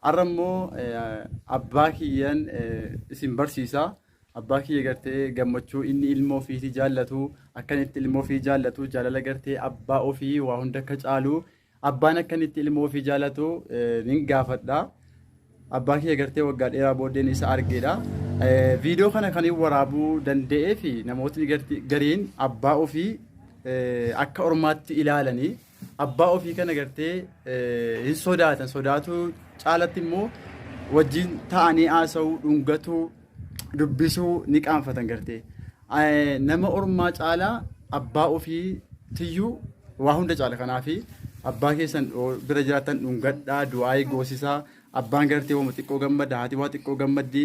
Har'a immoo abbaa kiyyan isin barsiisa. Abbaa kiyya gartee gammachuu inni ilmoo ofiitii jaallatu akkan itti ilmoo ofii jaallatu jaalala gartee abbaa ofii waa hunda akka caalu abbaan akkan itti ilmoo ofii jaallatu nin gaafadha. Abbaa kiyya gartee waggaa dheeraa booddeen isa argeedha. Viidiyoo kana kan hin waraabuu danda'ee fi namootni gariin abbaa ofii akka ormaatti ilaalanii Abbaa ofii kana gartee hin sodaatan sodaatuu caalatti immoo wajjin ta'anii haasa'uu dhungatuu dubbisuu ni qaanfatan gartee nama ormaa caalaa abbaa ofii tiyyuu waa hunda caala kanaafi abbaa keessan bira jiraatan dhungadhaa du'aayii goosisaa abbaan gartee wama xiqqoo gammada haati waa xiqqoo gammaddi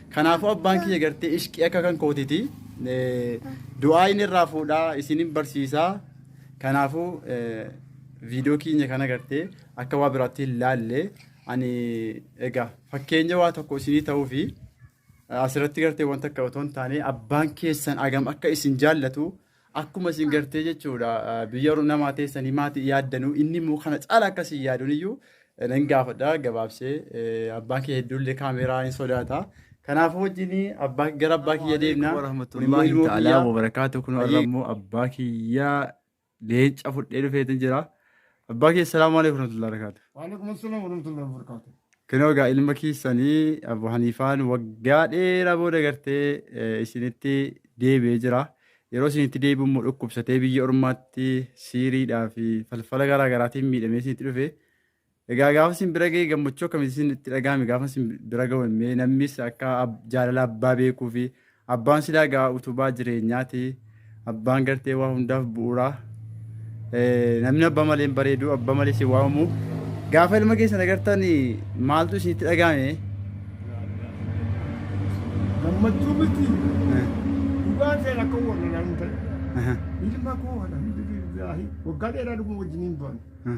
Kanaafuu abbaan kiyya gartee ishqii akka kan kootiti du'aa inni irraa fuudhaa isinin barsiisaa kanaafuu viidiyoo keenya kana gartee akka waa biraatti hin laalle ani egaa fakkeenya waa tokko isinii ta'uu fi asirratti gartee wanta akka otoo hin taane abbaan keessan agam akka isin jaallatu akkuma isin gartee jechuudha biyya warra namaa teessanii maati yaaddanuu inni immoo kana caala akkasii yaaduun iyyuu nan gaafadha gabaabsee abbaan kee hedduullee kaameeraa hin sodaata. Kanaafuu wajjin abbaa gara abbaa kiyya deemna. Warahmatullahi ta'ala wabarakaatu kun har'a immoo abbaa kiyya leenca fudhee dhufeetu jira. Abbaa kee salaamu alaikum warahmatullahi wabarakatuh. Waalaikum assalam warahmatullahi wabarakatuh. Kinoo egaa ilma keessanii Abu Haniifaan waggaa dheeraa booda gartee eh, isinitti deebi'ee jira. Yeroo isinitti deebi'u immoo dhukkubsatee biyya ormaatti siiriidhaa fi falfala garaa garaatiin miidhamee isinitti dhufe. Egaa gaafa isin bira ga'e gammachuu akkamitti isin itti dhaga'ame gaafa isin bira ga'u mee namnis akka ab- jaalala abbaa beekuu fi Abbaan silaa gaa utubaa jireenyaati. Abbaan gartee waa hundaaf bu'uura. Eh, Namni abbaa malee hin bareedu, abbaa malee si waamamu. Gaafa ilma keessan agartan maaltu isinitti dhaga'ame? Gammachuu miti. Dhugaa ta'e akka warra naan ta'e. Aha, Ilma koo alhamdulillaahi waggaa dheeraa dhuma wajjin hin baane. aha.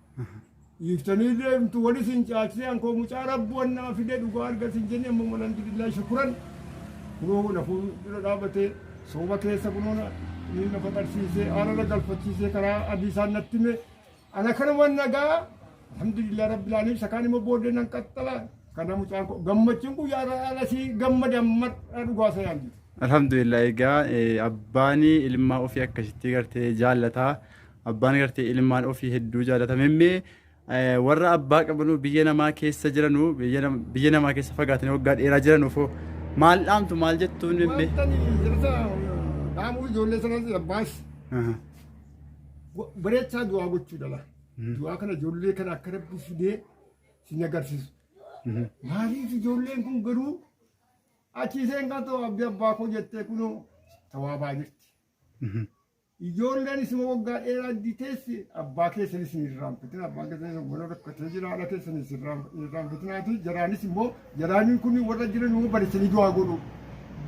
Hiiftanii deemtu wali sin caalchisee ankoo mucaa rabbu wannaa fide dhugaa arga sin jenne ammoo alhamdulillah shukuran kunoo na fuuldura dhaabatee sooba keessa kunoo na ni na faxarsiisee aara na galfachiisee karaa adii isaan natti hime ana kanuman nagaa alhamdulillah rabbil alamin isa kaan immoo booddee nan qaxxala kana mucaan koo gammachuun kun yaara alasii gammada madha dhugaa sayaan Alhamdulillah egaa eh, abbaani ilmaa ofii akkasitti gartee jaallataa. Abbaan gartee ilmaan ofii hedduu jaalata. Memmee warra abbaa qabanuu biyya namaa keessa jiranuu biyya namaa keessa fagaatanii waggaa dheeraa jiranuuf maal dhaamtu maal jettuun memmee? Wantani jirta dhaamuu ijoollee sanas abbaas bareechaa du'aa gochuu dhala. Du'aa kana ijoollee kana akka rabbi fidee sin agarsiisu. Maaliif ijoolleen kun garuu achiiseen kan ta'u abdi abbaa koo jettee kunoo tawaabaa jirti. Ijoolleen isuma waggaa dheeraa iddii teessi abbaa keessanis hin irraanfatin abbaan keessanis wal rakkatee jira haadha keessanis hin irraanfatinaati jaraanis immoo jaraaniin kun warra jiran immoo barisanii du'aa godhu.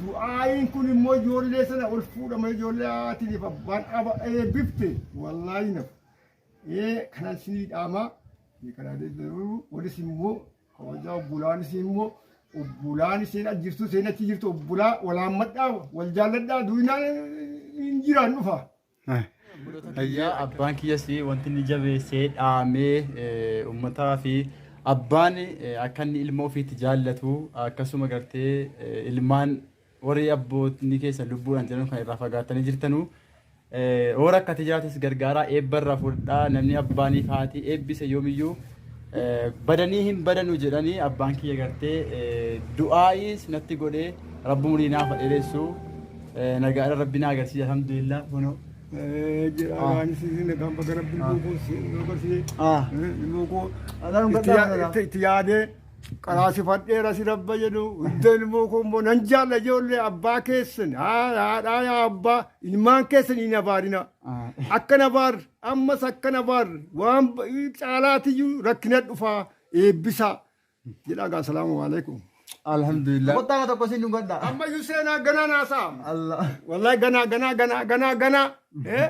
Du'aayiin kun immoo ijoollee sana ol fuudhama ijoollee haatiif abbaan aba eebbifte wallaahi naf. Ee kanan sinii dhaamaa. Karaa deebi'u walis immoo Kabajaa obbolaan isii immoo obbolaan isheen as jirtu isheen achi jirtu obbolaa wal haammadhaa wal jaalladhaa duunaan hin jiraan dhufa. Ayyaa abbaan kiyyas wanti inni jabeessee dhaamee eh, ummataa fi abbaan eh, akka inni ilma ofiitti jaallatu akkasuma gartee eh, ilmaan Warri abbootni keessa lubbuudhaan jiran kan irraa fagaattanii jirtanu yoo rakkate jiraates gargaaraa eebba irraa fudhadhaa namni abbaaniif haati eebbise yoomiyyuu badanii hin badanu jedhanii abbaan kiyya gartee du'aa'iis natti godhee rabbi umurii naaf dheeressu nagaadha rabbi na agarsiise alhamdulillah kuno jira waan isin kan bakka rabbi ilmoo koo si agarsiise ilmoo koo itti yaadee qaraasifadheera si rabba jedhu hunda ilmoo koo immoo nan jaalla ijoollee abbaa keessan haa- haadhaa yaa abbaa ilmaan keessan hin abaarina akka na baar ammas akka na baar waan ba- caalaatiyyuu rakkina dhufaa eebbisaa jedha gaa salaamu alaikum Alhamdulillah. Kottaa tokko siin dhugadha. ammayyuu seenaa ganaa naasaa Allah. wallahi ganaa ganaa ganaa ganaa ganaa eh